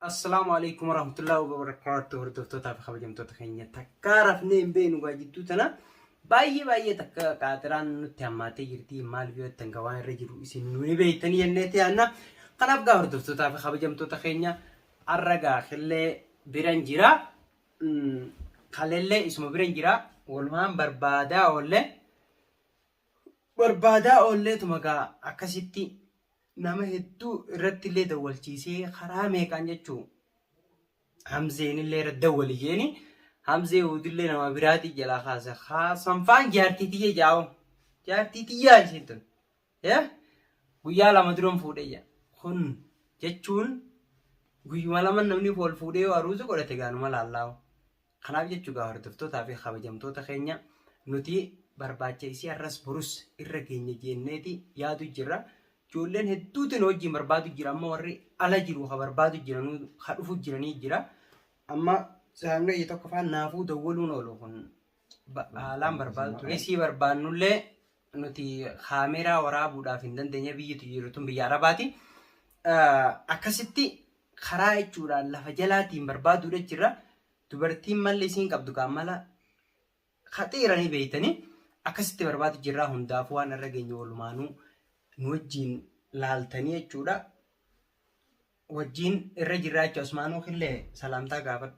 Assalaamu alaikum warahmatullahi wabarakatuh hordoftootaa fi kabajamtoota keenya takkaa rafnee hin beeknu gaa jidduu tana baay'ee baay'ee takka qaaxiraan nutti hammaatee jirti maal biyyoottan gaa waan irra jiru isin nu ni beektanii jennee tiyaanna kanaaf gaa hordoftootaa fi kabajamtoota keenya arra gaa killee biran jira Mm, kalellee isuma biran jira walumaan barbaadaa oollee barbaadaa oollee tuma gaa akkasitti nama hedduu irratti illee dawwalchiisee karaa meeqaan jechuu hamzeen illee irra dawwali jeeni hamzee uudillee nama biraatii jalaa kaase haa sanfaan jaartii tiyya jaa'u jaartii tiyyaa isiin tun yaa guyyaa lama duran fuudhee jaa kun jechuun guyyuma lama namni wal fuudhee yoo aruuza godhate gaanuma laallaawu Kanaaf jechuu gaa hordoftootaa fi kabajamtoota keenya nuti barbaacha isii har'as borus irra geenya jeenneeti yaadu jirra. Ijoolleen hedduutu nu wajjin barbaadu jira amma warri ala jiru ka barbaadu jira nu ka dhufu jiranii jira. Amma saamna ija tokko faan naafuu dawwaluun oolu kun ba- haalaan barbaadu ture. Isii barbaannullee nuti kaameeraa waraabuudhaaf hin dandeenye biyyitu jiru tun biyya arabaati. Eh, Akkasitti karaa jechuudhaan lafa jalaatiin barbaaduudha jechuudha. Dubartiin malli isiin qabdu kaan mala haxiiranii beeytanii akkasitti barbaadu jirraa hundaafuu waan irra geenye walumaanuu nu wajjiin laaltanii jechuudha. Wajjiin irra jirraa jechuudha. Usmaanuu killee salaamtaa gaafadhu.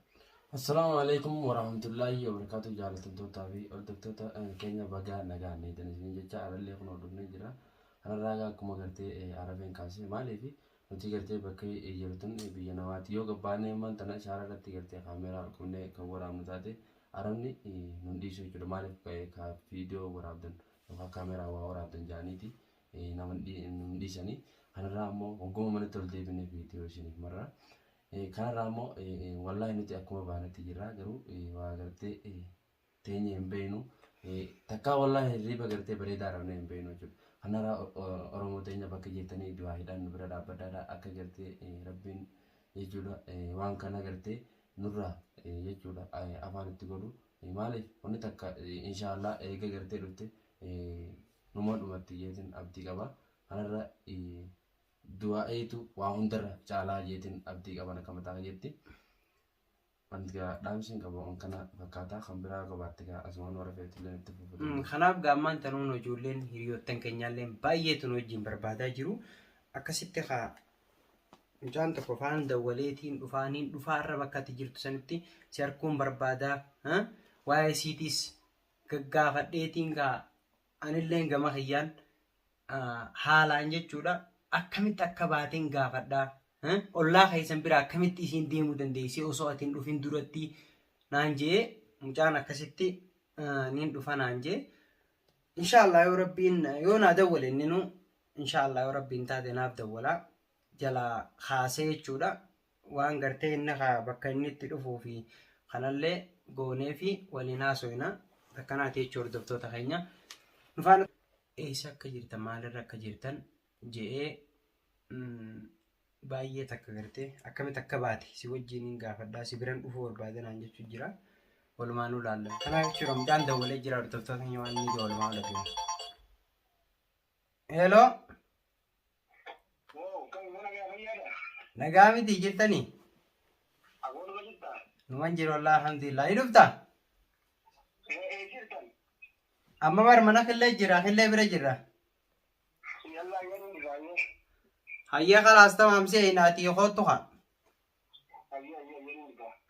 Assalaamu alaikum warahmatullaahi wabarakaatu jaalatamtootaa fi hordoftoota eh, keenya bagaa nagaan neetan isin jecha arallee kun hordofnee jira ararraagaa akkuma gartee eh, arabeen kaasee maaliif Nutii gartee bakka jiru tun biyya namaati yoo gabbaanee ammaan tana ishaara irratti gartee kaameeraa ol qabnee kan waraabnu taate arabni nun dhiisu jechuudha maaliif ka viidiyoo waraabdan yookaan kaameeraa waa waraabdan jaaniiti nama nun dhiisanii kanarraa ammoo hogguma manatti ol deebinee viidiyoo isiniif marra kanarraa ammoo wallaahi nuti akkuma baanetti jirra garuu waa gartee teenye hin beeknu takkaa wallaahi hirriiba gartee bareedaa dhabnee hin beeknu jechuudha. Kanarra Oromoo teenya bakka jettanii du'aa hidhaan nu bira dhaabbadhaadha akka gartee rabbiin jechuudha waan kana gartee nurraa jechuudha afaan itti godhu maaliif wanni takka inshaallah eega gartee dhufte numa dhumatti jeetiin abdii qaba kanarra du'aa eetu waa hundarra caalaa jeetiin abdii qaban akka mataa jetti. Wanti gaa dhaamsiin qabu waan kana fakkaataa kan biraa yoo qabaatte gaa asumaan warra feetilleen itti fufuu Mm, dandeessu. Kanaaf gaammaan tanuun ijoolleen hiriyoottan keenyaalleen baay'eetu nu wajjin barbaadaa jiru. Akkasitti kaa mucaan tokko faan dawwaleetiin dhufaa niin dhufaa irra bakka ati jirtu sanitti si harkuun barbaadaa. ha? Waa'ee siitiis gaggaafadheetiin kaa Anilleen gama kiyyaan haalaan jechuudha akkamitti akka baateen gaafadha. Ollaa keessan bira akkamitti isiin deemuu dandeessee osoo ati hin dhufin duratti naan jee mucaan akkasitti niin dhufa naan jee. Inshaallah yoo rabbiin yoo naa dawwale inninu inshaallah yoo rabbiin taate naaf dawwala jalaa kaasee jechuudha. waan gartee inni kaa bakka inni itti dhufuu fi kanallee goonee fi waliin haasoyna akkanaati jechuu hordoftoota keenya nufaan eessa akka jirtan maalirra akka jirtan je'ee baay'ee takka gartee akkamitti akka baate si wajjin hin gaafadhaa si biran dhufuu barbaadanaan jechuu jira walumaanuu laalla kanaaf jechuudha mucaan dawwalee jira hordoftoota keenya waan inni ija walumaa lafiin. Hello. Nagaa miti jirtani? Numan jiru Allah alhamdulillah. Ni dhufta? Amma bar mana killee jira killee bira jira. Hayyee kalaas tamaam si eeyna ati koottu haa.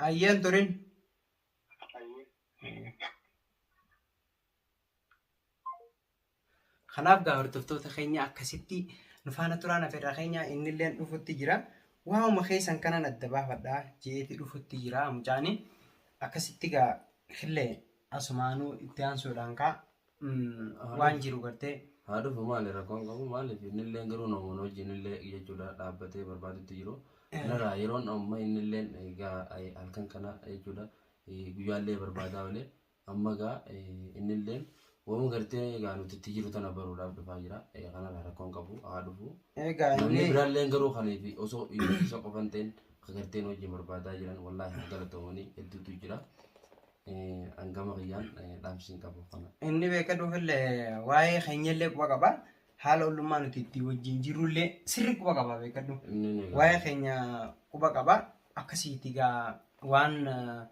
Hayyeen turin. Kanaaf gaa hordoftoota keenya akkasitti nu faana turaa nafeerraa keenya inni illee dhufutti jira. Waa'uma keessan kanan adda baafadha jeeti dhufutti jira mucaani. Akkasitti gaa illee asumaanuu itti aansuudhaan kaa waan jiru gartee. Haa dhufu maali rakkoon qabu maaliif inni illee garuu namoonni wajjin illee jechuudha dhaabbatee barbaadutti jiru. Kanarraa yeroon amma inni illee egaa halkan kana jechuudha guyyaallee barbaadaa olee Amma egaa innilleen wama gartee egaa nuti itti jiru tana baruudhaaf dhufaa jira. Kanarraa rakkoon qabu haa dhufu. Egaa Namni inni biraalleen garuu kaniif osoo isa qofa hin ta'in akka gartee nu wajjin barbaadaa jiran wallaahi haa galatoomanii hedduutu jira. Hangama kiyyaan dhaamsiin qabu kana. inni beeka dhuufillee waa'ee keenyallee quba qaba. Haala ollummaa nuti itti wajjin jirrullee sirri quba qaba beekadhu. Inni ni Waa'ee gaafata. keenya quba qaba. Akkasiiti egaa waan eh,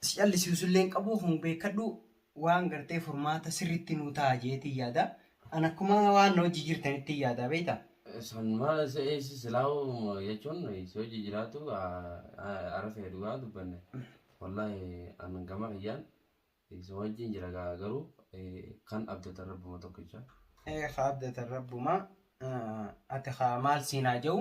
si callisiisullee hin qabu kun beekadhu waan gartee furmaata sirriitti nuu ta'a jeetiin yaada. An akkuma waan na hojii jirtanitti yaada beekta. Sun maal isa eessi silaa'u jechuun si hojii jiraatu ara ta'e dhugaa dubbanne. Wallaahi an gama kiyyaan si wajjin jira gaa garuu kan abdatan rabbuma tokkicha. Ee ka abdatan rabbuma ati ka maal siinaa ja'u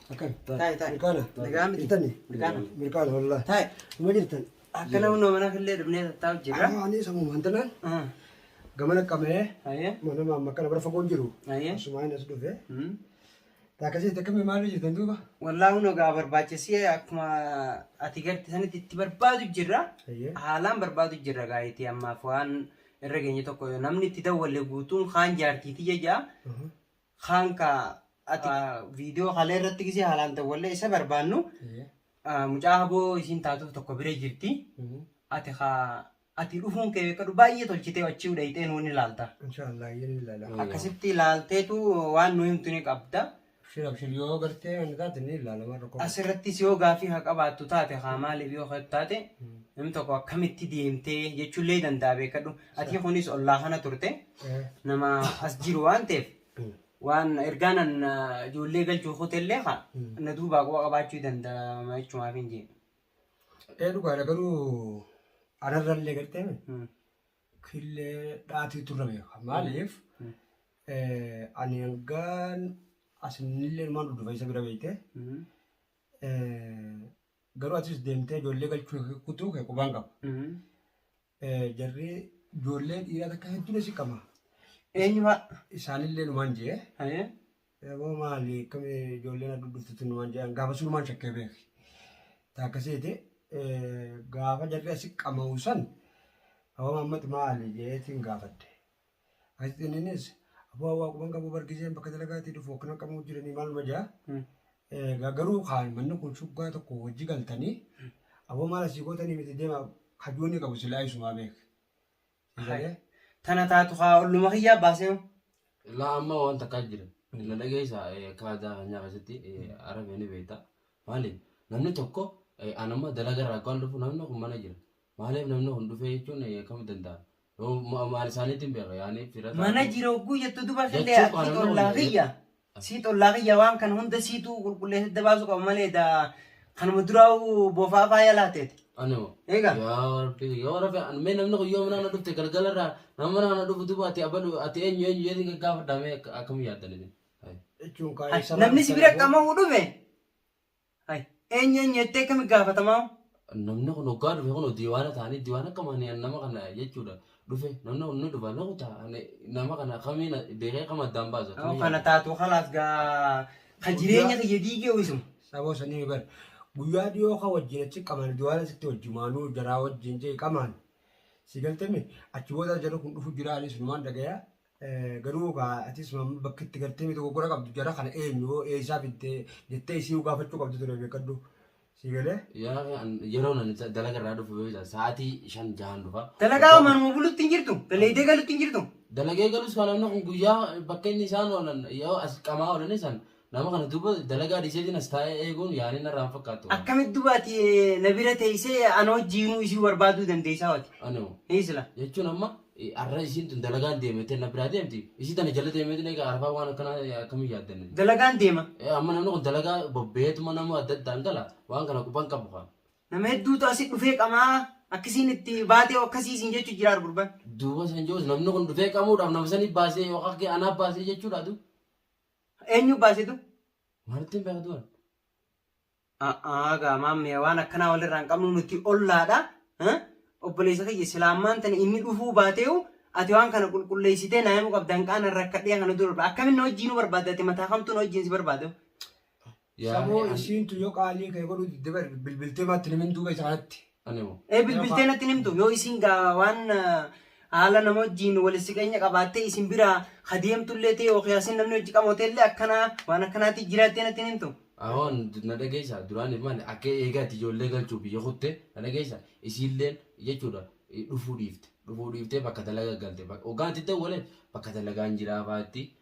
Akkan. Taa'e, taa'e. Mirqaana. Nagaa miti. Intani. Mirqaana. Mirqaana wallaahi. Taa'e. Uma jirtan. Akkana humna mana killee dhufnee tattaa'u jirra. Amma ani sammuu mantanaan Ah, gamana qabee Hayyee. mana maamma kana bara fagoon jiru. Hayyee. Asumaa inni as dhufe. Hmm. Taakasii takkamii maal jirtan duuba? Wallaahi humna gaa barbaachisee akkuma ati garte sanitti itti barbaadu jirra. Hayyee. Haalaan barbaadu jirra gaa itti ammaaf waan irra geenye tokko namni itti dawwalle guutuun kaan jaartiiti jajaa. kaan ka ati viidiyoo kalee irratti gisee haalaan dawwallee isa barbaannu ah, mucaa haboo isiin taatuuf tokko bira jirti ati ka ati dhufuun kee beekadhu baay'ee tolchitee achii udhayxee nuun ilaalta Inshaallah yin ilala. Mm. akkasitti ilaalteetu waan nu himtu ni qabda Abshir abshir yoo gartee wanti taate ni ilala warra qofa. asirrattis yoo gaafii haa qabaattu taate haa maaliif yoo haa taate namni tokko akkamitti deemtee jechuullee danda'a beekadhu ati kunis ollaa kana turte nama as jiru waan ta'eef waan ergaan an ijoollee galchuuf hotellee haa na duubaa quba qabaachuu danda'ama jechumaaf hin jedhu. Ee dhugaadha garuu anarrallee gartee killee dhaatii turre beeka maaliif ani hangaan asinillee ilmaan dhudhufa isa bira beekte garuu atis deemtee ijoollee galchuu kutuu kee qubaan qaba. Jarri ijoollee dhiiraa takka hedduun isii qaba. Eenyu fa'a? Isaanillee numaan jee. Ayee. Eeboo maali akkamii ijoolleen adda dhuftutti numaan jee. Gaafa sunumaan shakkee beeki. Taakkaseeti gaafa jarri asi qama'u san hawama ammati maali jeetiin gaafadde. Gaazexi inninis aboo hawaa quban qabu bar gizeen bakka dalagaatii dhufu akkana qabuu jiranii maaluma jaa. Egaa garuu kaan manni kun shuggaa tokko wajji galtanii aboo maal asii gootanii miti deema hajuu inni qabu silaa isumaa beek. Eegalee Tana taatu haa olluma kiyyaa baasee hoo. Laa amma waan takkaa jira. Na dhageessa kaadaa kanyaa keessatti arabe ni beekta. Maali namni tokko anamma dalagarraa akkaan dhufu namni kun mana jira. Maaliif namni kun dhufee jechuun akkamitti danda'a? Yoo maal isaaniitiin beeka yaanii fira taa'u. Mana jira hogguu jettu duba killee Jechuu qaba ati namni kun xollaa jedhe. kiyya. Sii xollaa kiyya waan kana hunda siitu qulqulleessee adda baasuu qaba malee da kanuma duraa'u boofaa faaya laateeti. Animo. Eega. Yaa rabbi yoo rabbi an mee namni kun yoo mana na dhufte galgala irraa nama mana na dhufu duuba ati abalu ati eenyu eenyu jedhee gaggaafadha mee akka- akkam yaaddan isin. Hai. jechuun Hai, kaayee sabaa Namni si bira qamahu dhufe Hay, eenyu eenyu jettee kami gaafatamaa? Namni kun hoggaa dhufe kun diiwaana ta'anii diiwaana akkam ani an nama kana jechuudha dhufe namni kun ni dhufa loqu ta'a ani nama kana kamiin beekee kam addaan baasa Yoo tuni kana yaada. taatu kalaas gaa ka jireenya kiyya diigee wisuma. Saboo sanii bar guyyaa dhiyoo kan wajjin achi qamaan duwaalan sitti wajjumaanuu jaraa wajjin jee qamaan si galtame achi booda jedhu kun dhufu jira anis numaan dhagaya Garuu kaa atis maamma bakka itti gartee miti goggora qabdu jara kana eenyu hoo eessaa fiddee jettee isii gaafachuu qabdu ture beekadhu. Sii galee? Yaa an- yeroo nan isa dalaga irraa dhufu yoo isa sa'aatii shan jahan dhufa. Dalagaa manuma bulutti hin jirtu. Dalaydee galutti hin jirtu. Dalagee galus kan namni kun guyyaa bakka inni isaan oolan yoo as qamaa oolan isaan Nama kana duuba dalagaa dhiiseetiin as taa'ee eeguun yaalii narraa hin fakkaattu waan. Akkamit duba ati eh, na bira teessee eh, ana wajjiinuu isii barbaaduu dandeessaa wati. Anoo. Hii sila. Jechuun amma eh, arra isiin tun dalagaan deemettee na biraa deemti. Isii tana jala deemeetiin egaa arfaa waan akkanaa eh, akkamii yaaddanne. Dalagaan deema. Eh, amma namni kun dalagaa bobbeetuma nama adda addaan gala waan kana quban qabu kaa. Nama hedduutu asi dhufee qamaa akkasiin itti baatee akkasii isin jechu jiraar gurban. Duuba san jechuus namni kun dhufee qamuudhaaf nama sanii baasee yookaan kee anaa baasee jechuudha adu. Eenyu baasitu? Wanti hin beektu waan. A'aa gaamaan mee waan akkanaa walirraa hin qabnu nuti ollaadha. Eh? Obboleessa kiyya islaammaan tana inni dhufuu baateeyu ati waan kana qulqulleessitee naa himuu qabda hanqaana rakkadhee kana dura akkamitti na wajjin nu barbaadda ati mataa kamtuu na wajjin si barbaadu. Saboo Yaani an- isiintu yoo qaalii kee godhu didde bar bilbiltee maatti nimin duuba isa kanatti. ani moo. Ee bilbiltee natti hin himtu yoo isin gaa waan ah, haala nama wajjin wal siqeenya qabaattee isin bira hadeemtullee ta'e yookiin asin namni hojii qamoteellee akkanaa waan akkanaatti jiraattee natti hin himtu. Ahoon na dhageessa duraaniif maali akka eegaati ijoollee galchuu biyya kutte na dhageessa isiilleen jechuudha eh, dhufuu dhiifte dhufuu dhiiftee bakka dalagaa galte Bak- hoggaan itti dawwaleen bakka dalagaan jiraa faatti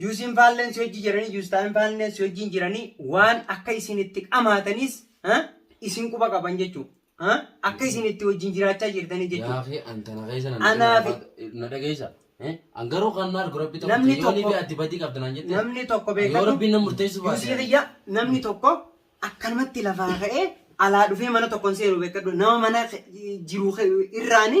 Juusiin faalleen si wajjin jiranii, juustaayin faalleen si wajjin jiranii waan akka isin itti dhamaatanis ah, isin quba qaban jechuudha. Ah, Akka isin itti wajjin jiraachaa jirtanii jechuudha. Yaaqee an tana keessa nan Anaa fi- na dhageessa. Eh? An garuu kan na argu rabbi tokko Namni ta'e, yoo tokko- libi ati badii qabda naan jette. Namni tokko Yoo beekatu rabbiin na murteessu baate. juusii kiyya namni tokko akkanumatti lafaa ka'ee alaa dhufee mana tokkoon seenu beekadhu nama mana ke- jiru ke- irraani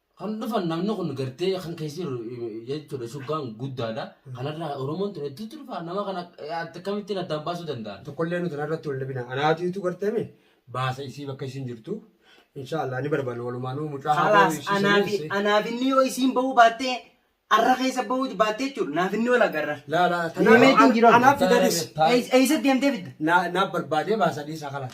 Kan dhufan namni kun gartee kan keessa jiru jechuudha shuggaan guddaadha. Kanarraa Oromoon ture itti dhufa nama kana akkamittiin addaan baasuu danda'an. Tokkollee nuti irratti wal dhabina. Anaatiitu garteeme baasa isii bakka isin jirtu. Inshaallah ni barbaanna walumaanuu mucaa Kalaas anaafi anaafinni yoo isiin bahuu baattee arra keessa bahuu baattee jechuudha naafinni wal agarra. Laa laa. Deemee ittiin jiru. Anaaf fidanis. Eessa deemtee fidda? Naaf barbaadee baasa dhiisaa kalaas.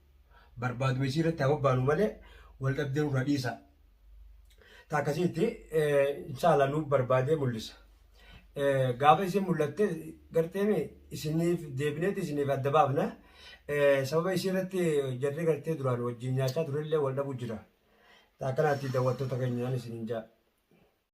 barbaaduma isii irratti haa bobbaanu malee wal dhabdee nurraa dhiisa. Ta akkasitti inshaallah nuuf barbaadee mul'isa. Gaafa isin mul'atte garteemi isiniif deebineeti isiniif adda baafna. Sababa isii irratti jarri gartee duraan wajjin nyaachaa turellee wal dhabu jira. Ta akkanaatti daawwattoota keenyaan isiniin jaa.